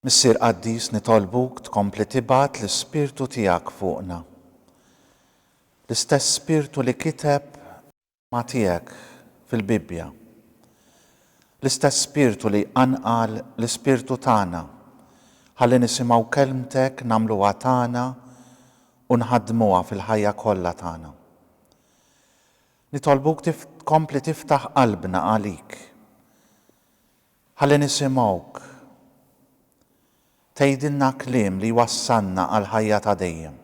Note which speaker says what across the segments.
Speaker 1: Missier Qaddis nitolbuk tkompli tibgħat l-Ispirtu tiegħek fuqna. L-istess Spirtu li kiteb l-Kelma tiegħek fil-Bibbja. L-istess Spirtu li jqanqal l-ispirtu tagħna ħalli nisimgħu Kelmtek nagħmluha tagħna u nħaddmuha fil-ħajja kollha tagħna. Nitolbuk tkompli tiftaħ qalbna għalik. Ħalli nisimgħuk tgħidilna kliem li jwassalna għall-ħajja ta' dejjem.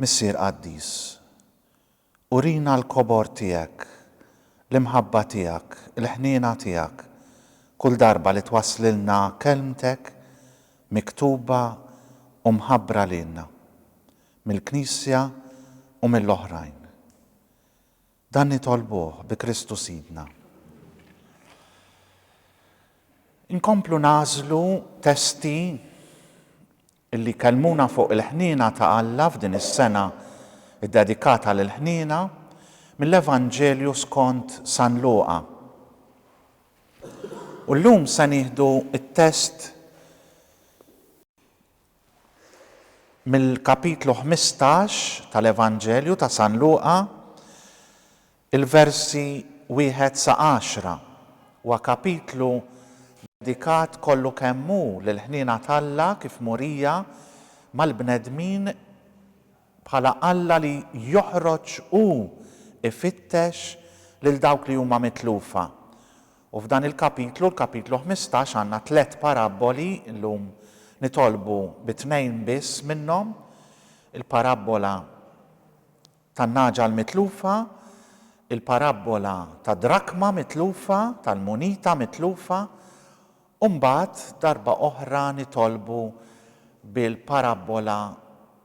Speaker 1: Missier qaddis, urina l-kobor tiegħek, l-imħabba tiegħek, il-ħniena tiegħek kull darba li twasslilna Kelmtek miktuba u mħabbra lilna mill-Knisja u mill-oħrajn. Dan nitolbuh bi Kristu Sidna. Inkomplu nagħżlu testi li jkellmuna fuq il-ħniena ta' Alla f'din is-sena ddedikata lill-ħniena mill-Evanġelju skont San Luqa. U llum se nieħdu t-test Mill-Kapitlu ħmistax tal-Evanġelju ta' San Luqa, il-versi wieħed sa għaxra, huwa kapitlu dedikat kollu kemm hu lill-ħniena t'Alla kif murija mal-bnedmin bħala Alla li joħroġ u ifittex lil dawk li huma mitlufa. U f'dan il-kapitlu, l-kapitlu ħmistax, għandna tliet parabboli, illum nitolbu bi tnejn biss minnhom, il-parabbola tan-nagħġa l-mitlufa, il-parabbola tad-drakma mitlufa, tal-munita mitlufa, U mbagħad darba oħra nitolbu bil-parabbola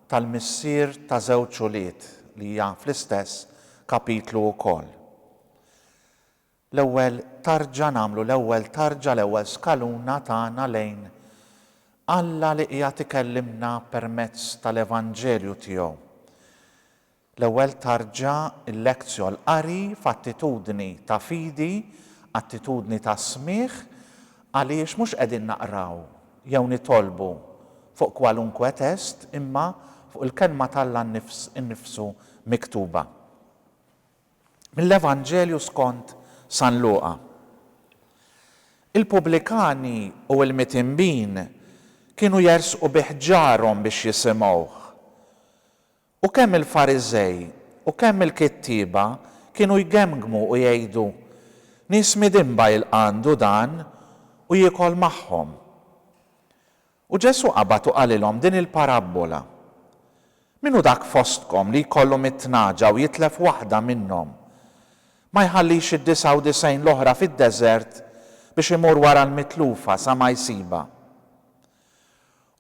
Speaker 1: tal-missier ta' żewġ ulied li hija fl-istess kapitlu wkoll. L-ewwel tarġa nagħmlu l-ewwel tarġa, l-ewwel skaluna tagħna lejn Alla li qiegħed ikellimna permezz tal-Evanġelju tiegħu. L-ewwel tarġa l-lectio l-qari f'attitudni ta' fidi, attitudni ta' smigħ, għaliex mhux qegħdin naqraw jew nitolbu fuq kwalunkwe test imma fuq il-Kelma t'Alla nnifsu miktuba. Mill-Evanġelju skont San Luqa. Il-pubblikani u l-mitinbin kienu jersqu bih ġarhom biex jisimgħuh. U kemm il-Fariżej u kemm il-kittieba kienu jgemgmu u jgħidu, Nies midinba jilqa' għandu dan u jiekol magħhom. U Ġesù qabad u qalilhom din il-parabbola, Min hu dak fostkom li jkollu mitt nagħġa u jitlef waħda minnhom, ma jħallix id-disgħa u disgħin l-oħra fid-deżert biex imur wara l-mitlufa sa ma jsibha?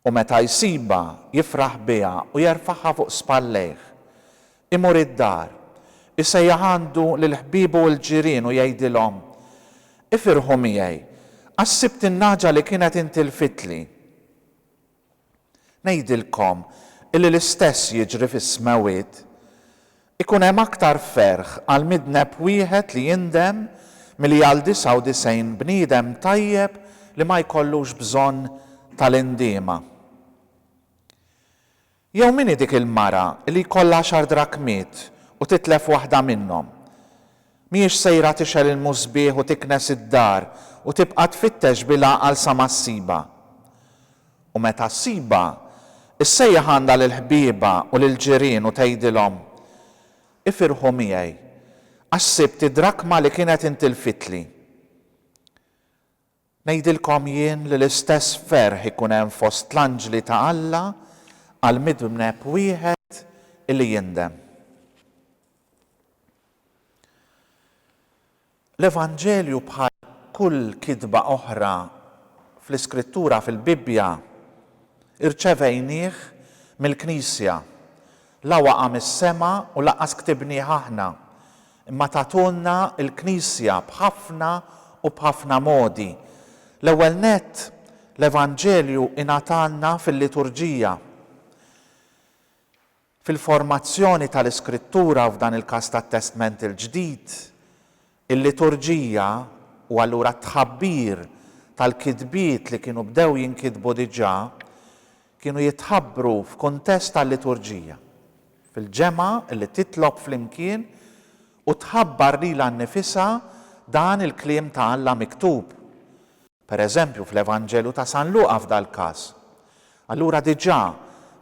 Speaker 1: U meta jsibha, jifraħ biha u jerfagħha fuq spallejh. Imur id-dar. Isejjaħ għandu lil ħbiebu u l-ġirien u jgħidilhom, Ifirħu miegħi, għax sibt in-nagħġa li kienet intilfitli. Ngħidilkom illi l-istess jiġri fis-smewwiet. Ikun hemm aktar ferħ għal midneb wieħed li jindem milli għal 99 bniedem tajjeb li ma jkollux bżonn tal-indiema. Jew min hi dik il-mara li jkollha għaxar drakmiet u titlef waħda minnhom? Mhijiex sejra tixgħel il-musbieħ u tiknes id-dar u tibqa' tfittex bil-għaqal sa ma ssibha. U meta ssibha, issejjaħ għandha lill-ħbiebha u lill-ġirien u tgħidilhom, Ifirħu miegħi, għax sibt id-drakma li kienet intilfitli. Ngħidilkom jien li l-istess ferħ ikun hemm fost l-anġli ta' Alla għal midneb wieħed li jindem. L-Evanġelju bħal kull kitba oħra fl-Iskrittura, fil-Bibbja, irċevejnieh mill-Knisja. La waqa' mis-sema u lanqas ktibnieh aħna, imma tagħtulna l-Knisja b'ħafna u b'ħafna modi. L-ewwel nett, l-Evanġelju ingħatalna fil-liturġija, fil-formazzjoni tal-iskrittura, f'dan il-każ tat-Testment il-Ġdid, Il-liturġija, u allura t-tħabbir tal-kitbiet li kienu bdew jinkitbu diġà, kienu jitħabbru f'kuntest ta' liturġija, fil-ġemgħa li titlob flimkien u tħabbar lilha nnifisha dan il-kliem ta' Alla miktub. per eżempju fl-Evanġelu ta' San Luqa f'dal-każ. Allura diġà,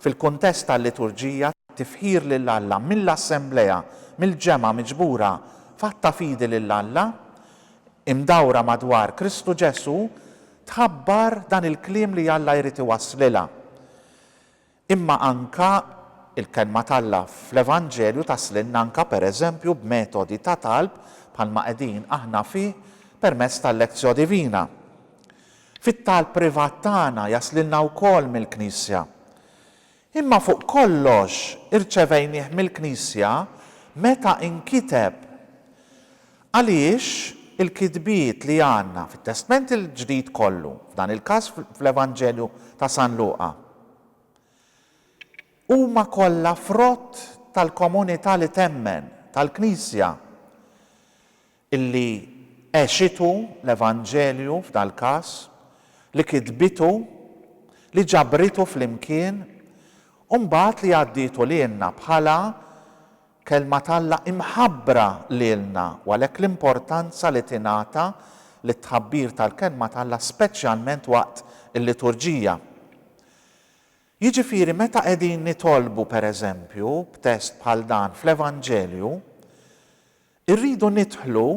Speaker 1: fil-kuntest tal-liturġija, tifħir lil Alla mill-assemblea, mill-ġemgħa miġbura f'att ta' fidi lil Alla, imdawra madwar Kristu Ġesù, tħabbar dan il-kliem li Alla jrid iwasslilha. Imma anke l-Kelma t'Alla fl-Evanġelju taslilna anke pereżempju b'metodi ta' talb bħalma qegħdin aħna fih permezz tal-Lectio Divina. Fit-talb privat tagħna jaslilna wkoll mill-Knisja. Imma fuq kollox irċevejnih mill-Knisja meta inkiteb. Għaliex il-kitbiet li għandna fit-Testment il-Ġdid kollu, f'dan il-każ fl-Evanġelju ta' San Luqa, huma kollha frott tal-komunità li temmen, tal-Knisja, li għexitu l-Evanġelju f'dal-każ, li kitbitu, li ġabritu flimkien, u mbagħad li għaddietu lilna bħala Kelma t'Alla imħabbra lilna u għalhekk l-importanza li tingħata lit-tħabbir tal-Kelma t'Alla speċjalment waqt il-liturġija. Jiġifieri meta qegħdin nitolbu pereżempju b'test bħal dan fl-Evanġelju, irridu nidħlu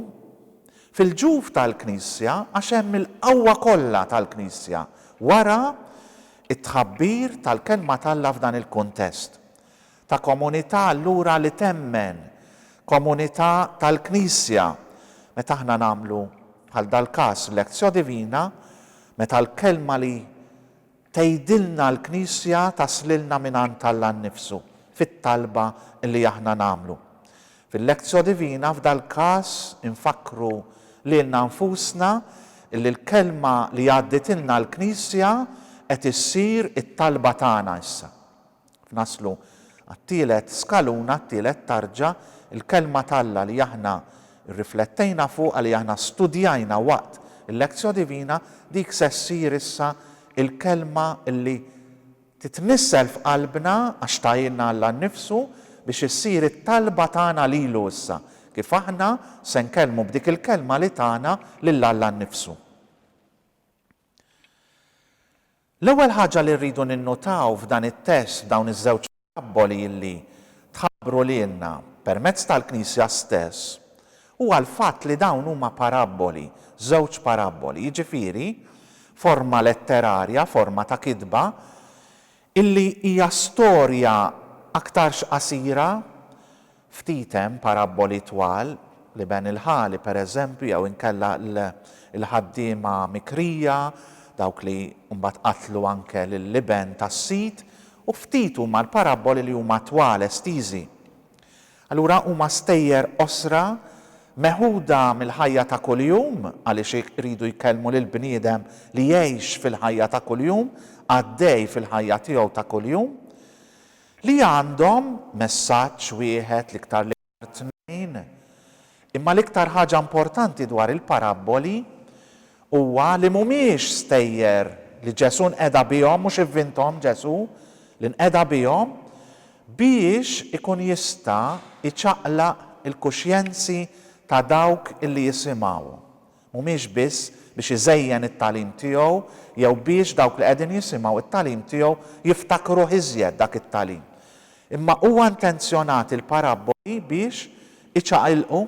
Speaker 1: fil-ġuf tal-Knisja għax hemm il-qawwa kollha tal-Knisja wara t-tħabbir tal-Kelma t'Alla f'dan il-kuntest. ta' komunità allura li temmen, komunità tal-Knisja. Meta aħna nagħmlu, bħal dal-każ, lectio divina, meta l-kelma li tgħidilna l-Knisja taslilna mingħand Alla nnifsu, fit-talba li aħna nagħmlu. Fil-lectio divina, f'dal-każ, infakkru lilna nfusna li l-kelma li għadditilna l-Knisja qed issir it-talba tagħna issa. F'naslu għat-tielet skaluna, t-tielet tarġa, il-Kelma t'Alla li aħna rriflettejna fuqha, li aħna studjajna waqt il-Lectio Divina, dik se ssir issa il-Kelma li titnissel f'qalbna, għax tahielna Alla nnifsu, biex issir it-talba tagħna lilu issa, kif aħna se nkellmu b'dik il-Kelma li tana lil Alla nnifsu. L-ewwel ħaġa li rridu ninnutaw f'dan it-test f'dawn iż-żewġ parabboli li tħabbru lilna permezz tal-Knisja stess huwa l-fatt li dawn huma parabboli, żewġ parabboli, jiġifieri forma letterarja, forma ta' kitba, illi hija storja aktarx qasira, Ftit hemm parabboli twal, l-iben il-ħali, per eżempju, jew inkella l-ħaddiema mikrija, dawk li mbagħad qatlu anke lill-iben tas-sid, u ftit huma l-parabboli li huma twal, estiżi. Allura huma stejjer qosra, meħuda mill-ħajja ta' kuljum, għaliex iridu jkellmu lill-bniedem li jgħix fil-ħajja ta' kuljum, għaddej fil-ħajja tiegħu ta' kuljum. Li għandhom messaġġ wieħed, l-iktar l-iktar tnejn. Imma l-iktar ħaġa importanti dwar il-parabboli huwa li mhumiex stejjer li Ġesù nqeda bihom, mhux ivvinthom Ġesù, li nqeda bihom biex ikun jista' jċaqlaq il-kuxjenzi ta' dawk li jisimgħu. mhumiex biss biex iżejjen it-tagħlim tiegħu jew biex dawk li qegħdin jisimgħu t-tagħlim tiegħu jiftakruh iżjed dak it-tagħlim, imma huwa intenzjonat il-parabboli biex iċaqilqu,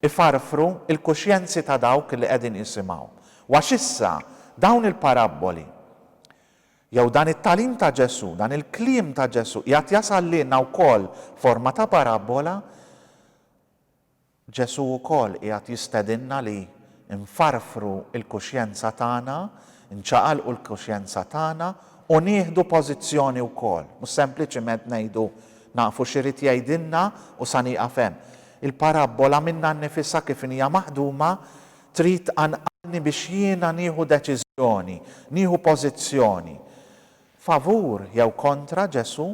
Speaker 1: ifarfru, il-kuxjenzi ta' dawk li qegħdin jisimgħu. U għax issa dawn il-parabboli, jew dan it-tagħlim ta' Ġesù, dan il-kliem ta' Ġesù qiegħed jasal lilna wkoll f'forma ta' parabbola, Ġesù wkoll qiegħed jistedinna li nfarfru l-kuxjenza tagħna, nċaqalqu l-kuxjenza tagħna u nieħdu pożizzjoni wkoll, mhux sempliċiment ngħidu, Nafu x'irid jgħidilna u sa nieqaf hemm. Il-parabbola minnha nnifisha kif inhija maħduma trid tqanqalni biex jiena nieħu deċiżjoni, nieħu pożizzjoni. favur jew kontra Ġesù,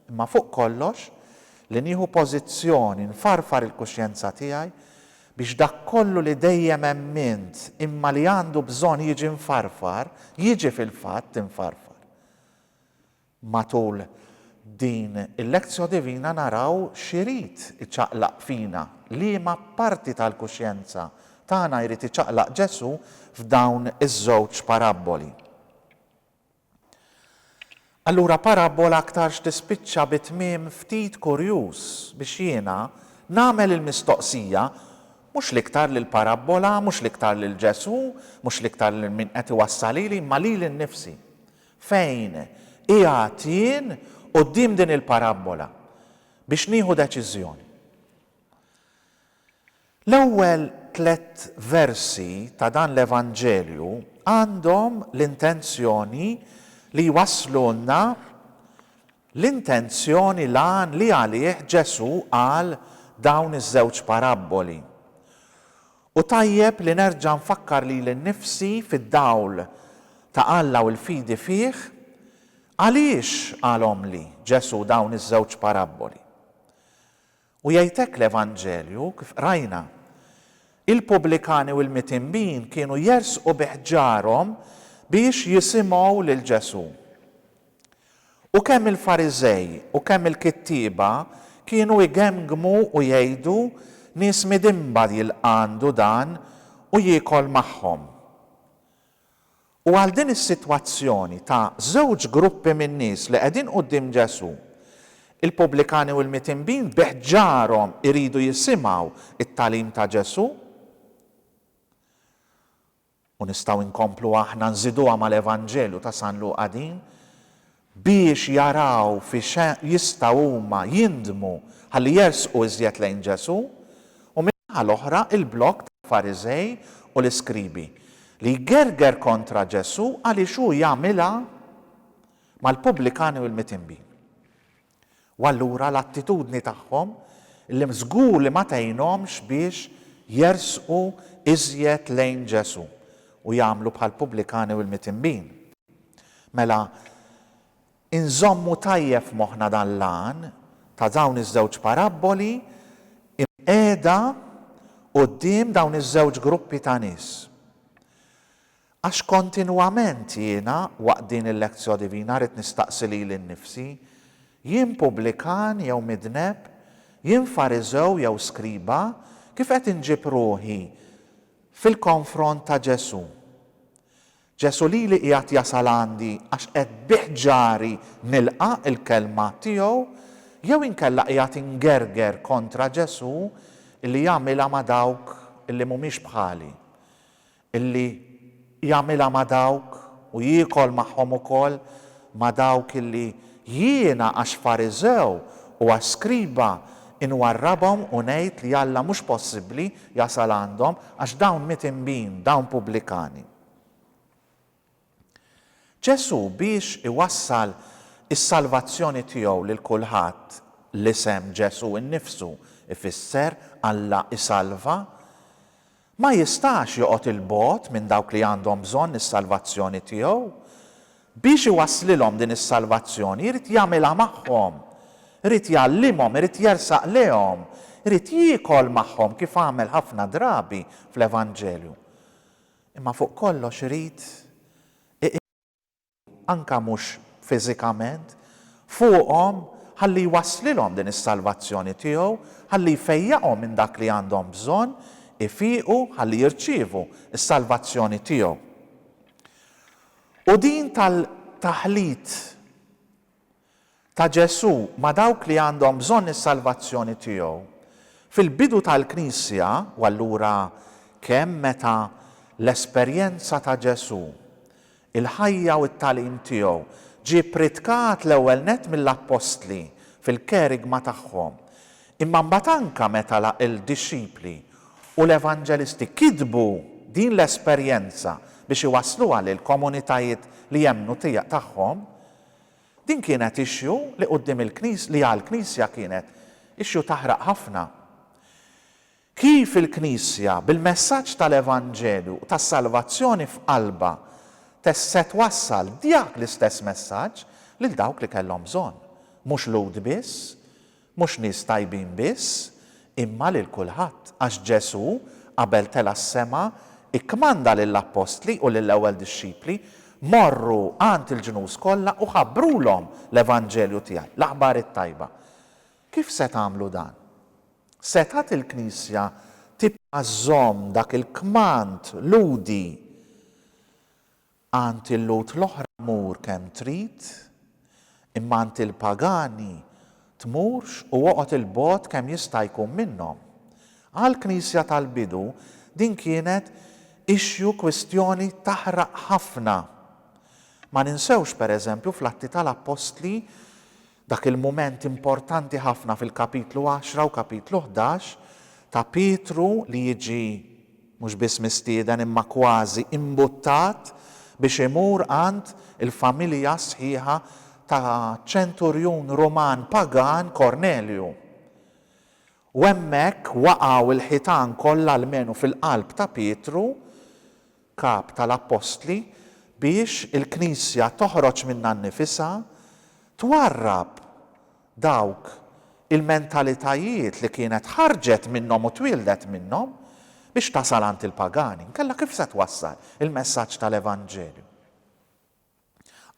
Speaker 1: imma fuq kollox, li nieħu pożizzjoni, nfarfar il-kuxjenza tiegħi, biex dak kollu li dejjem emmint, imma li għandu bżonn jiġi mfarfar, jiġi fil-fatt imfarfar. Matul din il-Lectio Divina naraw x'irid iċaqlaq fina, liema parti tal-kuxjenza tagħna jrid iċaqlaq Ġesù f'dawn iż-żewġ parabboli. Allura parabbola aktarx tispiċċa bi tmiem ftit kurjuż biex jiena nagħmel il-mistoqsija, mhux l-iktar lill-parabbola, mhux l-iktar lil Ġesù, mhux l-iktar lil min qed iwassal lili, imma lili nnifsi, Fejn qiegħed jien quddiem din il-parabbola biex nieħu deċiżjoni? L-ewwel tliet versi ta' dan l-Evanġelju għandhom l-intenzjoni li jwasslulna l-intenzjoni, l-għan li għalih Ġesù qal dawn iż-żewġ parabboli. U tajjeb li nerġa' nfakkar lili nnifsi fid-dawl ta' Alla u l-fidi fih, għaliex qalhomli Ġesù dawn iż-żewġ parabboli? U jgħid hekk l-Evanġelju, kif qrajna, Il-pubblikani u l-mitinbin kienu jersqu bi ħġarhom biex jisimgħu lil Ġesù. U kemm il-Fariżej u kemm il-kittieba kienu jgemgmu u jgħidu, Nies midinba jilqa' għandu dan u jiekol magħhom. U għal din is-sitwazzjoni ta' żewġ gruppi min-nies li qegħdin quddiem Ġesù, il-pubblikani u l-mitinbin bi ħġarhom iridu jisimgħu t-tagħlim ta' Ġesù. U nistgħu nkomplu aħna nżiduha mal-Evanġelju ta' San Luqa din, biex jaraw fi x' jistgħu huma jindmu ħalli jersqu iżjed lejn Ġesù, u min-naħa l-oħra l-blokk tal-Fariżej u l-iskribi, li jgerger kontra Ġesù għaliex hu jagħmilha mal-pubblikani u l-mitinbin. U allura l-attitudni tagħhom illum żgur li ma tgħinhomx biex jersqu iżjed lejn Ġesù u jagħmlu bħall-pubblikani u l-mitinbin. Mela, inżommu tajjeb f'moħħna dan l-għan ta' dawn iż-żewġ parabboli imqiegħda quddiem dawn iż-żewġ gruppi ta' nies. Għax kontinwament jiena, waqt din il-lectio divina, rrid nistaqsi lili nnifsi, Jien pubblikan jew midneb? Jien Fariżew jew skriba? Kif qed inġib ruħi fil-konfront ta' Ġesù? Ġesù lili qiegħed jasal għandi għax qed bih ġari nilqa' l-kelma tiegħu jew inkella qiegħed ingerger kontra Ġesù li jagħmilha ma' dawk li mhumiex bħali? Illi jagħmilha ma' dawk, u jiekol magħhom ukoll, ma' dawk illi jiena għax Fariżew u għax skriba inwarrabhom u ngħid li Alla mhux possibbli jasal għandhom, għax dawn mitinbin, dawn pubblikani. Ġesù biex iwassal is-salvazzjoni tiegħu lil kulħadd, l-isem Ġesù nnifsu jfisser Alla jsalva, ma jistax joqgħod 'il bogħod minn dawk li għandhom bżonn is-salvazzjoni tiegħu. Biex iwasslilhom din is-salvazzjoni jrid jagħmilha magħhom, irid jgħallimhom, irid jersaq lejhom, irid jiekol magħhom kif għamel ħafna drabi fl-Evanġelju. Imma fuq kollox irid iqiegħu, anke mhux fiżikament, fuqhom ħalli jwasslilhom din is-salvazzjoni tiegħu, ħalli jfejjaqhom minn dak li għandhom bżonn ifiqu ħalli jirċievu s-salvazzjoni tiegħu. U din tal-taħlit ta' Ġesù ma' dawk li għandhom bżonn is-salvazzjoni tiegħu. Fil-bidu tal-Knisja, u allura kemm meta l-esperjenza ta' Ġesù, il-ħajja u t-tagħlim tiegħu ġie pritkat l-ewwel nett mill-appostli fil-kerigma tagħhom, imma mbagħad anke meta l-dixxipli u l-evanġelisti kitbu din l-esperjenza biex iwassluha lill-komunitajiet li jemmnu tagħhom, Din kienet issue li quddiem il-Knis, li għall-Knisja kienet issue taħraq ħafna. Kif il-Knisja, bil-messaġġ tal-Evanġelju u tas-salvazzjoni f'qalbha, test se twassal dak l-istess messaġġ lil dawk li kellhom bżonn, mhux Lhud biss, Mhux nies tajbin biss, imma lil kulħadd, għax Ġesù, qabel tela' s-sema, ikkmanda lill-appostli u lill-ewwel dixxipli, Morru għand il-ġnus kollha u ħabbrulhom l-evanġelju tiegħi, l-aħbar it-tajba. Kif se tagħmlu dan? Setgħet il-Knisja tibqa' żżomm dak il-kmand lhudi? Għand il-Lhud l-oħra mur kemm trid, imma għand il-pagani tmurx u oqgħod 'il bogħod kemm jista' jkun minnhom. Għall-Knisja tal-bidu din kienet issue kwistjoni taħraq ħafna. Ma ninsewx, pereżempju, fl-Atti tal-Appostli Dak il-mument importanti ħafna fil-kapitlu għaxra u kapitlu ħdax ta' Pietru li jiġi mhux biss mistieden imma kważi imbuttat biex imur għand il-familja sħiħa ta' ċenturjun Ruman pagan Kornelju. U hemmhekk waqgħu l-ħitan kollha almenu fil-qalb ta' Pietru Kap tal-Appostli, biex il-Knisja toħroġ minnha nnifisha, twarrab dawk il-mentalitajiet li kienet ħarġet minnhom u twieldet minnhom, biex tasal għand il-pagani. Inkella kif se twassal il-messaġġ tal-Evanġelju?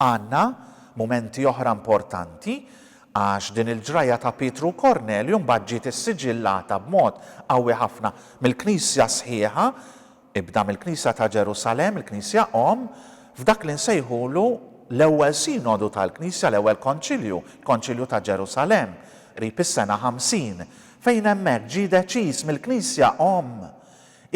Speaker 1: Għandna mumenti oħra importanti għax din il-ġrajja ta' Pietru u Kornelju mbagħad ġiet issiġillata b'mod qawwi ħafna mill-Knisja sħiħa, ibda mill-Knisja ta' Ġerusalemm, il-Knisja Omm, f'dak li nsejħulu l-Ewwel Sinodu tal-Knisja, l-Ewwel Konċilju, il-Konċilju ta' Ġerusalemm, qrib is-sena 50, fejn hemmhekk ġie deċiż mill-Knisja Omm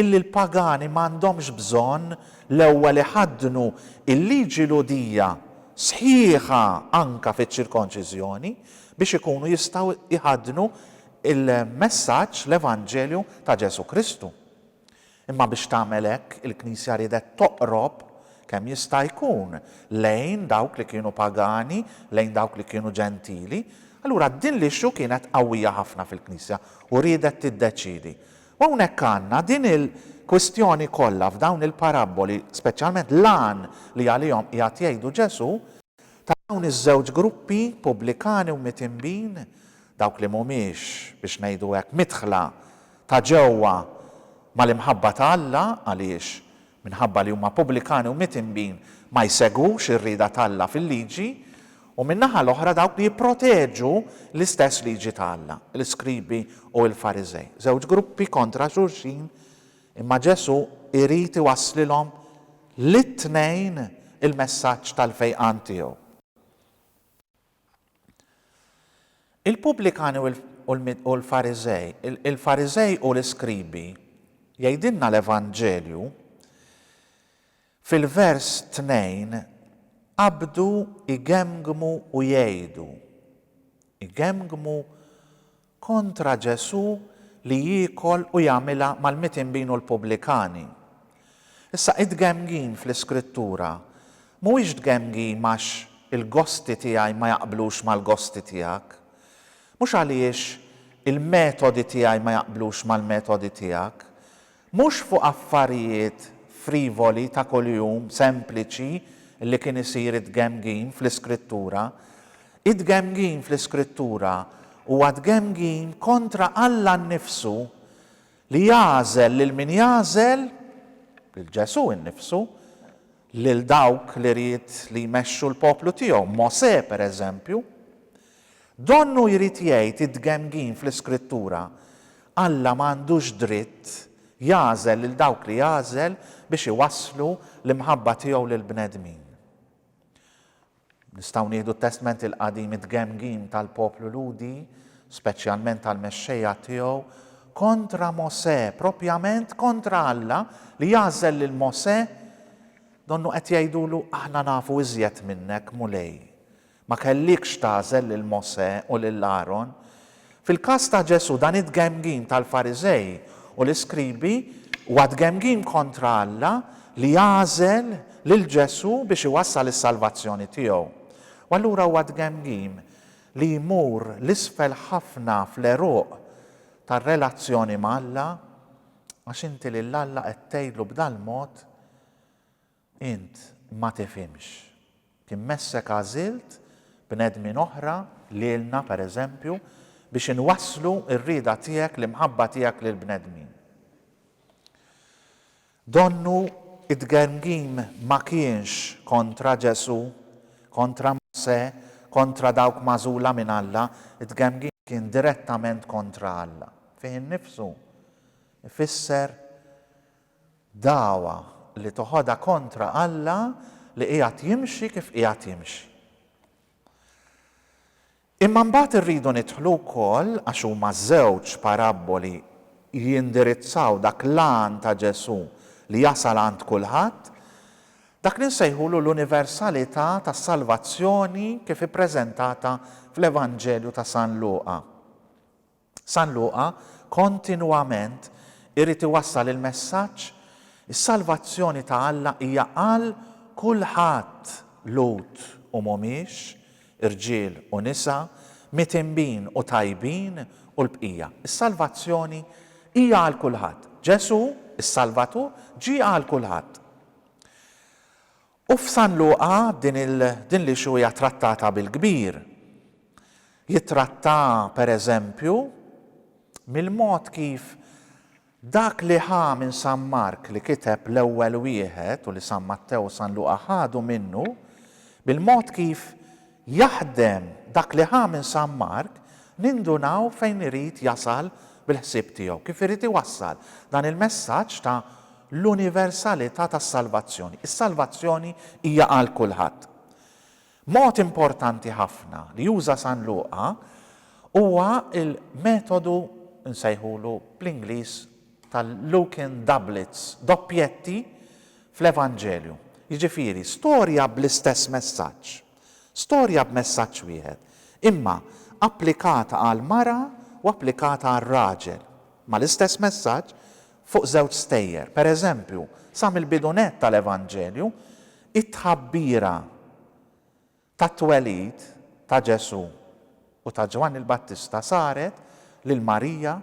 Speaker 1: illi l-pagani ma għandhomx bżonn l-ewwel iħaddnu l-liġi Lhudija sħiħa anke fiċ-ċirkonċiżjoni biex ikunu jistgħu jħaddnu l-messaġġ, l-evanġelju ta' Ġesù Kristu. Imma biex tagħmel hekk, il-Knisja riedet toqrob kemm jista' jkun lejn dawk li kienu pagani, lejn dawk li kienu Ġentili. Allura din l-issue kienet qawwija ħafna fil-Knisja u riedet tiddeċiedi. U hawnhekk għandna din il-kwistjoni kollha f'dawn il-parabboli, speċjalment l-għan li għalihom qiegħed jgħidu Ġesù, ta' dawn iż-żewġ gruppi, pubblikani u mitinbin, dawk li mhumiex, biex ngħidu hekk, midħla ta' ġewwa mal-imħabba ta' Alla, għaliex Minħabba li huma pubblikani u mitinbin ma jsegwux ir-rieda t'Alla fil-Liġi, u min-naħa l-oħra dawk li jipproteġu l-istess Liġi ta' Alla, l-iskribi u l-Fariżej. Żewġ gruppi kontra xulxin, imma Ġesù jrid iwasslilhom lit-tnejn il-messaġġ tal-fejqan tiegħu. Il-Pubblikani u l-Fariżej, il-Fariżej u l-Iskribi, jgħidilna l-Evanġelju, fil-vers 2, qabdu jgemgmu u jgħidu, jgemgmu kontra Ġesù li jiekol u jagħmilha mal-mitinbin u l-pubblikani. Issa, it-tgemmgin fl-Iskrittura mhuwiex tgemmgim għax il-gosti tiegħi ma jaqblux mal-gosti tiegħek, mhux għaliex il-metodi tiegħi ma jaqblux mal-metodi tiegħek, Mhux fuq affarijiet frivoli ta' kuljum, sempliċi, li kien isir it-tgemgim fl-Iskrittura. It-tgemgim fl-Iskrittura huwa tgemgim kontra Alla nnifsu, li jagħżel lil min jagħżel, lil Ġesù nnifsu, lil dawk li ried li jmexxu l-poplu tiegħu, Mosè, pereżempju. Donnu jrid jgħid id-dgemmgin fl-Iskrittura, Alla ma għandux dritt jagħżel lil dawk li jagħżel biex iwasslu l-imħabba tiegħu lill-bnedmin. Nistgħu nieħdu t-Testment il-Qadim id-dgemmgin tal-poplu Lhudi, speċjalment tal-mexxejja tiegħu, kontra Mosè, proprjament kontra Alla li jagħżel lil Mosè, donnu qed jgħidulu aħna nafu iżjed minnek, Mulej. Ma kellikx tagħżel lil Mosè u lil Aron. Fil-każ ta' Ġesù, dan it-tgemgim tal-Fariżej u l-iskribi huwa tgemgim kontra Alla li għażel lil Ġesù biex iwassal is-salvazzjoni tiegħu. U allura huwa tgemgim li jmur 'l isfel ħafna fl-għeruq tar-relazzjoni ma' Alla, għax inti lil Alla qed tgħidlu b'dal-mod, Int ma tifhimx. Kien messek għażilt bnedmin oħra, lilna pereżempju, biex inwasslu r-rieda tiegħek, l-imħabba tiegħek lill-bnedmin. Donnu it-tgermgim ma kienx kontra Ġesù, kontra Mosè, kontra dawk magħżula minn Alla, it-tgemgim kien direttament kontra Alla. Fih innifsu ifisser Dagħwa li toħodha kontra Alla li qiegħed jimxi kif qiegħed jimxi. Imma mbagħad irridu nidħlu wkoll, għax huma żewġ parabboli jindirizzaw dak l-għan ta' Ġesù li jasal għand kulħadd, dak li nsejħulu l-universalità tas-salvazzjoni kif ippreżentata fl-Evanġelju ta' San Luqa. San Luqa kontinwament irid iwassal il-messaġġ, Is-salvazzjoni ta' Alla hija għal kulħadd, Lhud u mhumiex, irġiel u nisa, mitinbin u tajbin u l-bqija. Is-salvazzjoni hija għal kulħadd. Ġesù, is-Salvatur, ġie għal kulħadd. U f'San Luqa din din l-issue hija trattata bil-kbir. Jittrattaha, per eżempju, mill-mod kif dak li ħa minn San Mark li kiteb l-ewwel wieħed u li San Mattew u San Luqa ħadu minnu, bil-mod kif Jaħdem dak li ħa minn San Mark, nindunaw fejn irid jasal bil-ħsieb tiegħu, kif irid iwassal dan il-messaġġ ta' l-universalità tas-salvazzjoni. Is-salvazzjoni hija għal kulħadd. Mod importanti ħafna li juża San Luqa huwa l-metodu nsejħulu bl-Ingliż tal-Lucan doublets, doppjetti, fl-Evanġelju. Jiġifieri, storja bl-istess messaġġ. Storja b'messaġġ wieħed, imma applikata għall-mara u applikata għar-raġel, ma' l-istess messaġġ, fuq żewġ stejjer. Per eżempju, sa mill-bidu nett tal-Evanġelju, it-tħabbira tat-twelid ta' Ġesù u ta' Ġwanni l-Battista saret lil Marija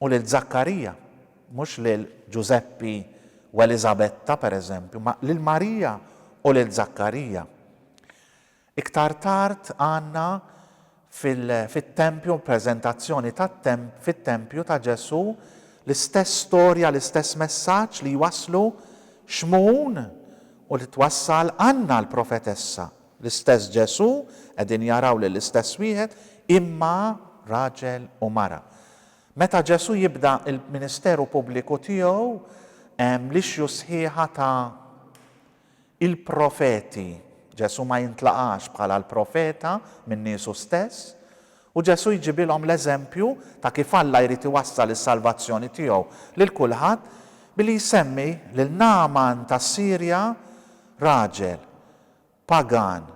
Speaker 1: u lil Żakkarija, mhux lil Ġużeppi u Eliżabetta, per eżempju, imma lil Marija u lil Żakkarija. Iktar tard għandna fit-tempju, il-preżentazzjoni fit-tempju ta' Ġesù, l-istess storja, l-istess messaġġ li jwasslu Xmun u li twassal Anna l-profetessa. L-istess Ġesù, qegħdin jaraw lill-istess wieħed, imma raġel u mara. Meta Ġesù jibda l-ministeru pubbliku tiegħu hemm lixju sħiħa ta' Il-profeti, Ġesù ma jintlaqax bħala l-profeta minn niesu stess, u Ġesù jġibilhom l-eżempju ta' kif Alla jrid iwassal is-salvazzjoni tiegħu lil kulħadd billi jsemmi lil Nagħman tas-Sirja raġel pagan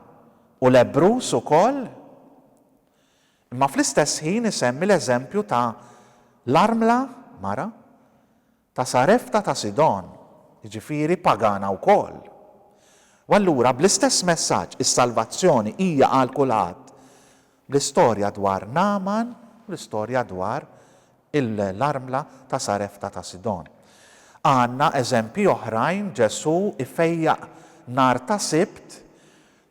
Speaker 1: u lebbruż ukoll imma fl-istess ħin isemmi l-eżempju ta' l-armla, mara, ta' Sarefta ta' Sidon, jiġifieri pagana wkoll. U allura, bl-istess messaġġ, is-salvazzjoni hija għal kulħadd, bl-istorja dwar Nagħman u l-istorja dwar l-armla ta' Sarefta ta' Sidon. Għandna eżempji oħrajn, Ġesù jfejjaq nhar ta' Sibt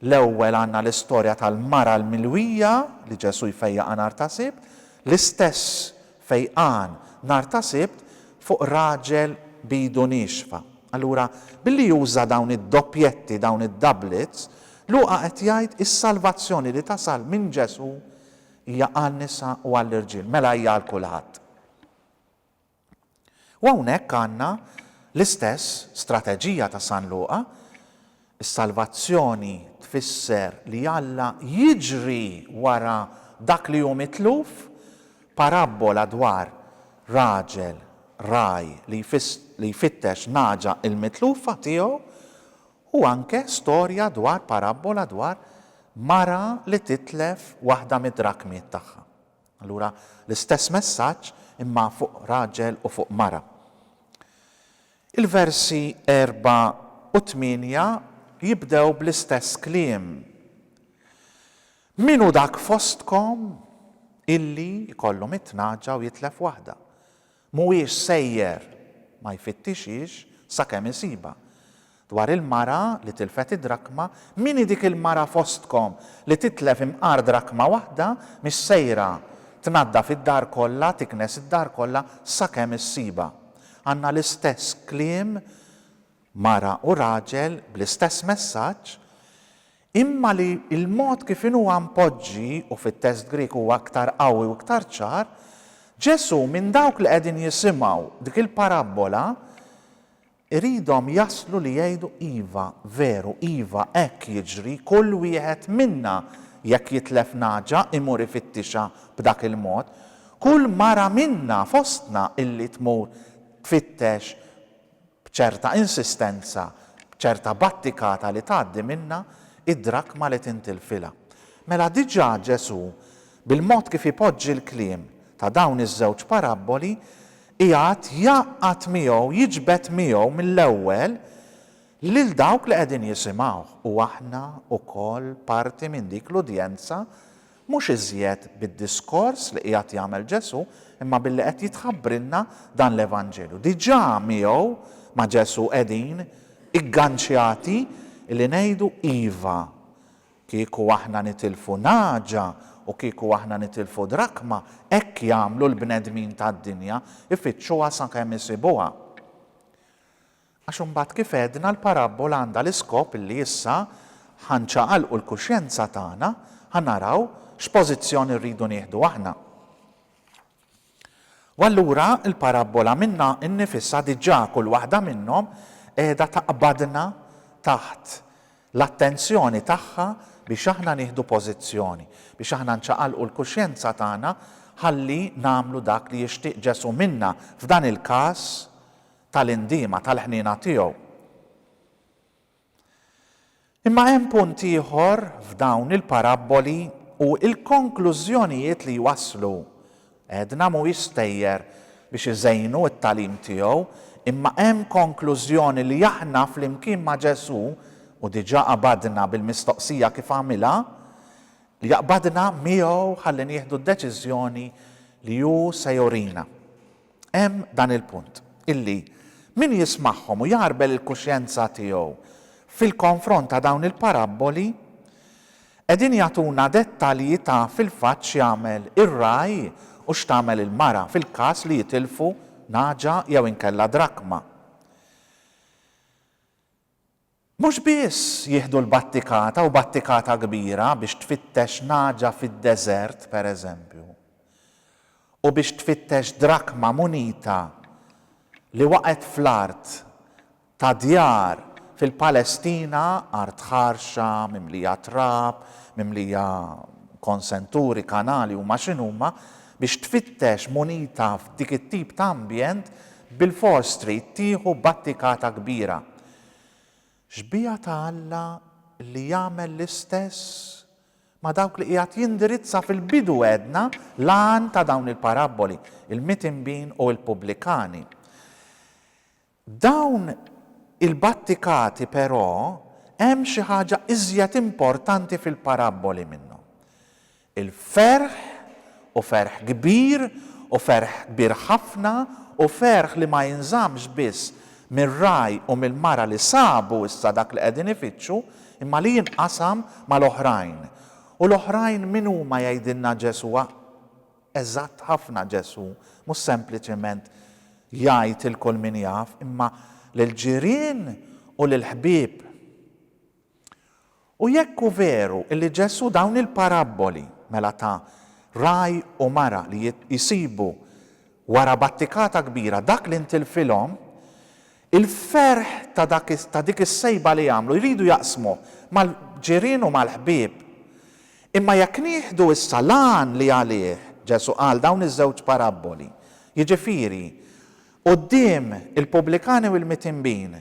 Speaker 1: L-ewwel għandna l-istorja tal-mara l-milwija li Ġesù jfejjaqha nhar ta' Sibt, l-istess fejqan nhar ta' Sibt fuq raġel b'idu niexfa. Allura, billi juża dawn id-doppjetti, dawn id-doublets, Luqa qed jgħid is-salvazzjoni li tasal minn Ġesù hija għan-nisa u għall-irġiel, mela hija għal kulħadd. U hawnhekk għandna l-istess strateġija ta' San Luqa, is-salvazzjoni tfisser li Alla jiġri wara dak li hu mitluf, parabbola dwar raġel ragħaj li jfittex nagħġa l-mitlufa tiegħu u anke storja dwar parabbola dwar mara li titlef waħda mid-drakmiet tagħha. Allura l-istess messaġġ imma fuq raġel u fuq mara. Il-versi erbgħa u tmienja jibdew bl-istess kliem. Min hu dak fostkom illi jkollu mitt nagħġa u jitlef waħda? Mhuwiex sejjer ma jfittixhiex sakemm isibha. Dwar il-mara li tilfet id-drakma, min hi dik il-mara fostkom li titlef imqar drakma waħda mhix sejra tnaddaf id-dar kollha, tiknes id-dar kollha sakemm issibha. Għandna l-istess kliem mara u raġel bl-istess messaġġ, imma li l-mod kif inhu huwa mpoġġi, u fit-test Grieg huwa iktar qawwi u iktar ċar, Ġesù minn dawk li qegħdin jisimgħu dik il-parabbola jridhom jaslu li jgħidu, iva, veru, iva, hekk jiġri, kull wieħed minna jekk jitlef nagħġa imur ifittixha b'dak il-mod, kull mara minna fostna illi tmur tfittex B'ċerta insistenza, b'ċerta battikata li tgħaddi minnha, id-drakma li tintilfilha. Mela diġà Ġesù, bil-mod kif ipoġġi l-kliem ta' dawn iż-żewġ parabboli, qiegħed jgħaqqad miegħu, jiġbed miegħu mill-ewwel lil dawk li qegħdin jisimgħuh. U aħna wkoll parti minn dik l-udjenza Mhux iżjed bid-diskors li qiegħed jagħmel Ġesù, imma billi qed jitħabbrilna dan l-Evanġelju. Diġà miegħu, ma' Ġesù, qegħdin igganċjati li ngħidu iva. Kieku aħna nitilfu nagħġa u kieku aħna nitilfu drakma, hekk jagħmlu l-bnedmin tad-dinja, ifittxuha sakemm isibuha. Għax imbagħad kif għedna l-parabbola għandha l-iskop li issa ħa nċaqalqu l-kuxjenza tagħna, ħa naraw x'pożizzjoni rridu nieħdu aħna. U allura l-parabbola minnha nnifisha diġà kull waħda minnhom qiegħda taqbadna taħt l-attenzjoni tagħha biex aħna nieħdu pożizzjoni, biex aħna nċaqalqu l-kuxjenza tagħna ħalli nagħmlu dak li jixtieq Ġesù minna, f'dan il-każ, tal-indiema, tal-ħniena tiegħu. Imma hemm punt ieħor f'dawn il-parabboli u l-konklużjonijiet li jwasslu. Għedna mhuwiex stejjer biex iżejnu t-tagħlim tiegħu, imma hemm konklużjoni li aħna flimkien ma' Ġesù, u diġà qabadna bil-mistoqsija kif għamilha, li jaqbadna miegħu ħalli nieħdu d-deċiżjoni li hu se jurina. Hemm dan il-punt, illi min jismagħhom u jagħrbel il-kuxjenza tiegħu fil-konfront ta' dawn il-parabboli, qegħdin jagħtuna dettalji ta' fil-fatt x'jagħmel ir-ragħaj u x'tagħmel il-mara fil-każ li jitilfu nagħġa jew inkella drakma. Mhux biss jieħdu l-battikata u battikata kbira biex tfittex nagħġa fid-deżert, per eżempju, u biex tfittex drakma, munita, li waqgħet fl-art ta' djar fil-Palestina, art ħarxa, mimlija trab, mimlija konsenturi, kanali, huma x'inhuma, biex tfittex munita f'dik it-tip ta' ambjent, bilfors trid tieħu battikata kbira. Xbieha ta' Alla li jagħmel l-istess ma' dawk li qiegħed jindirizza fil-bidu għedna l-għan ta' dawn il-parabboli, il-mitimbin u l-pubblikani. Dawn il-battikati però hemm xi ħaġa iżjed importanti fil-parabboli minnhom. Il-ferħ, u ferħ kbir, u ferħ kbir ħafna, u ferħ li ma jinżammx biss mir-ragħaj u mill-mara li sabu issa dak li qegħdin ifittxu, imma li jinqasam mal-oħrajn. U l-oħrajn min huma jgħidilna Ġesù? Eżatt ħafna Ġesù mhux sempliċement jgħid lil kull min jaf, imma lill-ġirien u lill-ħbieb. U jekk hu veru li Ġesù dawn il-parabboli, mela ta' ragħaj u mara li jsibu wara battikata kbira dak li ntilfilhom, il-ferħ ta' dak ta' dik is-sejba li għamlu jridu jaqsmuh mal-ġirien u mal-ħbieb. Imma jekk nieħdu issa l-għan li għalih Ġesù qal dawn iż-żewġ parabboli, jiġifieri quddiem il-pubblikani u l-mitinbin,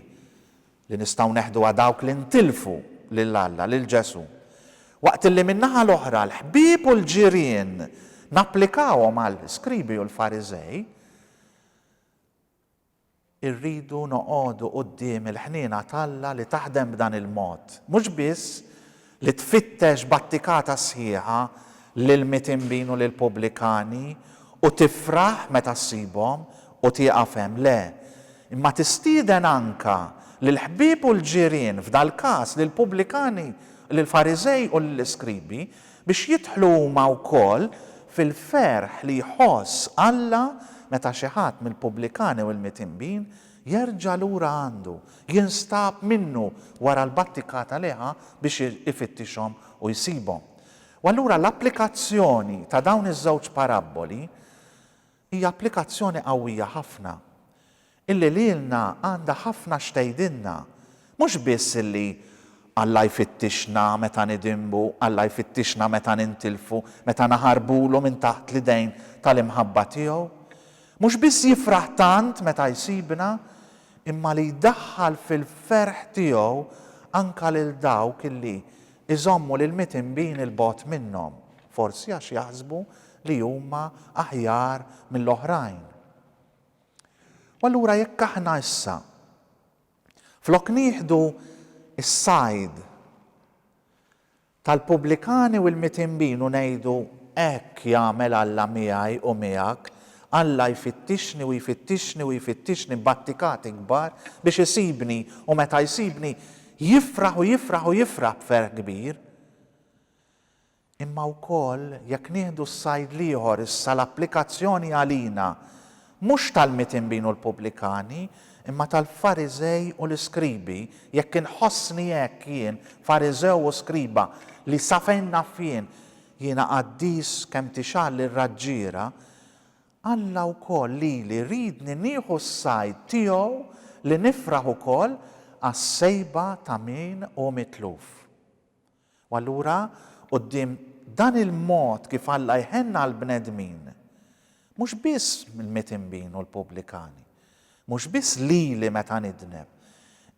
Speaker 1: li nistgħu neħduha dawk li ntilfu lil Alla, lil Ġesù, waqt li min-naħa l-oħra l-ħbieb u l-ġirien napplikawhom għall-iskribi u l-Fariżej, irridu noqogħdu quddiem il-ħniena t'Alla li taħdem b'dan il-mod, mhux biss li tfittex b'attikata sħiħa lill-mitinbin u lill-pubblikani u tifraħ meta ssibhom u tieqaf hemm, le, imma tistieden anke lill-ħbieb u l-ġirien, f'dal-każ lill-pubblikani, lill-Fariżej u lill-iskribi, biex jidħlu huma wkoll fil-ferħ li jħoss Alla meta xi ħadd mill-pubblikani u l-mitinbin Jerġa' lura għandu, jinstab minnu wara l-battikata li ħa biex ifittixhom u jsibhom. U allura l-applikazzjoni ta' dawn iż-żewġ parabboli hija applikazzjoni qawwija ħafna, illi lilna għandha ħafna x'tgħidilna, mhux biss illi Alla jfittixna meta nidinbu, Alla jfittixna meta nintilfu, meta naħarbulu minn taħt l-idejn tal-imħabba tiegħu, Mhux biss jifraħ tant meta jsibna, imma li jdaħħal fil-ferħ tiegħu anke lil dawk li jżommu lill-mitinbin 'il bogħod minnhom, forsi għax jaħsbu li huma aħjar mill-oħrajn. U allura jekk aħna issa, flok nieħdu s-sajd, Tal-pubblikani u l-mitinbin u ngħidu, Hekk jagħmel Alla miegħi u miegħek, Alla jfittixni u jfittixni u jfittixni b'attikati kbar biex isibni u meta jsibni jifraħ u jifraħ u jifraħ b'ferħ kbir. Imma wkoll jekk nieħdu s-sajd l-ieħor issa l-applikazzjoni għalina Mhux tal-mitinbin u l-pubblikani, imma tal-Fariżej u l-iskribi, jekk inħossni hekk jien, Fariżew u skriba, li sa fejn naf jien, jiena qaddis kemm tixgħal ir-raġġiera, Alla wkoll lili jridni nieħu s-sajd tiegħu li nifraħ ukoll għas-sejba ta' min hu mitluf. U allura, quddiem dan il-mod kif Alla jħenn għall-bnedmin, mhux biss l-mitinbin u l-pubblikani, mhux biss lili meta nidneb,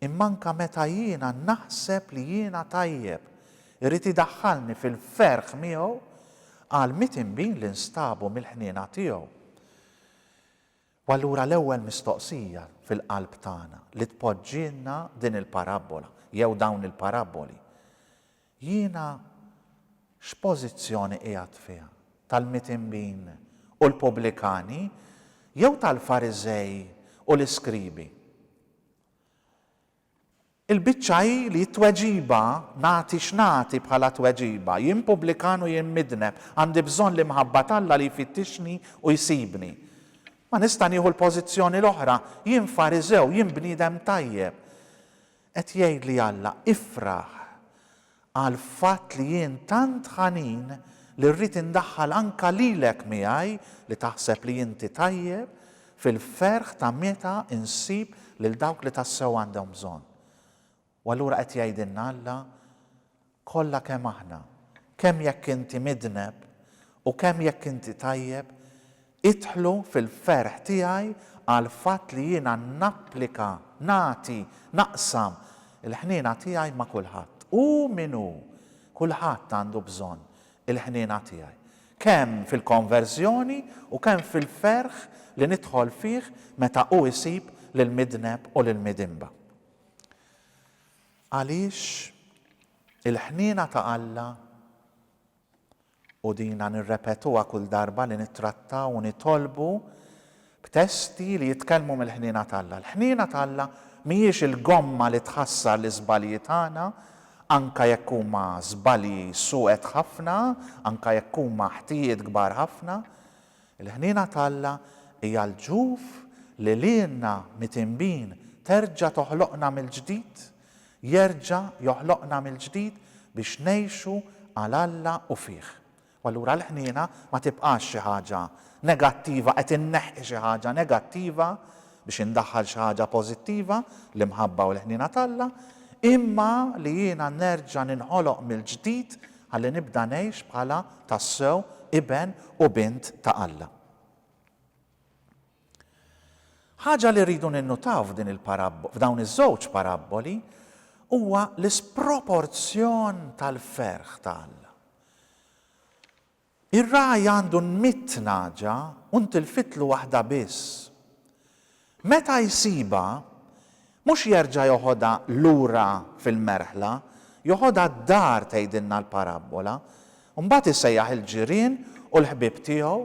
Speaker 1: imma anke meta jiena naħseb li jiena tajjeb, irid idaħħalni fil-ferħ miegħu għall-mitinbin li nstabu mill-ħniena tiegħu. U allura l-ewwel mistoqsija fil-qalb tagħna li tpoġġilna din il-parabbola jew dawn il-parabboli, jiena x'pożizzjoni qiegħed fiha, tal-mitembin u l-pubblikani jew tal-Fariżej u l-iskribi? Il-biċċa hi li t-tweġiba, nagħti x'nagħti bħala tweġiba, jien pubblikan u jien midneb, għandi bżonn l-imħabba t'Alla li jfittixni u jsibni. Ma nista' nieħu l-pożizzjoni l-oħra, jien Fariżew, jien bniedem tajjeb. Qed jgħidli Alla, ifraħ. għall-fatt li jien tant ħanin li rrid indaħħal anke lilek miegħi li taħseb li inti tajjeb, fil-ferħ ta' meta nsib lil dawk li tassew għandhom bżonn. U allura qed jgħidilna Alla, Kollha kemm aħna, kemm jekk inti midneb u kemm jekk inti tajjeb, Idħlu fil-ferħ tiegħi għall-fatt li jiena napplika, nagħti, naqsam, il-ħniena tiegħi ma' kulħadd. Hu min hu, kulħadd għandu bżonn il-ħniena tiegħi. Kemm fil-konverżjoni u kemm fil-ferħ li nidħol fih meta hu jsib lill-midneb u lill-midinba. Għaliex il-ħniena ta' Alla U dina nirrepetuha kull darba li nittrattaw u nitolbu b'testi li jitkellmu mill-ħniena t'Alla. Il-ħniena t'Alla mhijiex il-gomma li tħassar l-iżbalji tagħna, anke jekk huma żbalji suwed ħafna, anke jekk huma ħtijiet kbar ħafna. Il-ħniena t'Alla hija l-ġuf li lilna mitinbin terġa' toħloqna mill-ġdid Jerġa' joħloqna mill-ġdid biex ngħixu għal Alla u fih. U allura l-ħniena ma tibqax xi ħaġa negattiva, qed inneħħi xi ħaġa negattiva biex indaħħal xi ħaġa pożittiva, l-imħabba u l-ħniena t'Alla, imma li jiena nerġa' ninħoloq mill-ġdid ħalli nibda ngħix bħala tassew iben u bint ta' Alla. Ħaġa li rridu ninnutaw f'dawn iż-żewġ parabboli huwa l-isproporzjon tal-ferħ ta' Alla. Ir-ragħaj għandu mitt nagħġa u ntilfitlu waħda biss. Meta jsibha, Mhux jerġa' joħodha lura fil-merħla, joħodha d-dar tgħidilna l-parabbola, u mbagħad isejjaħ il-ġirien u l-ħbieb tiegħu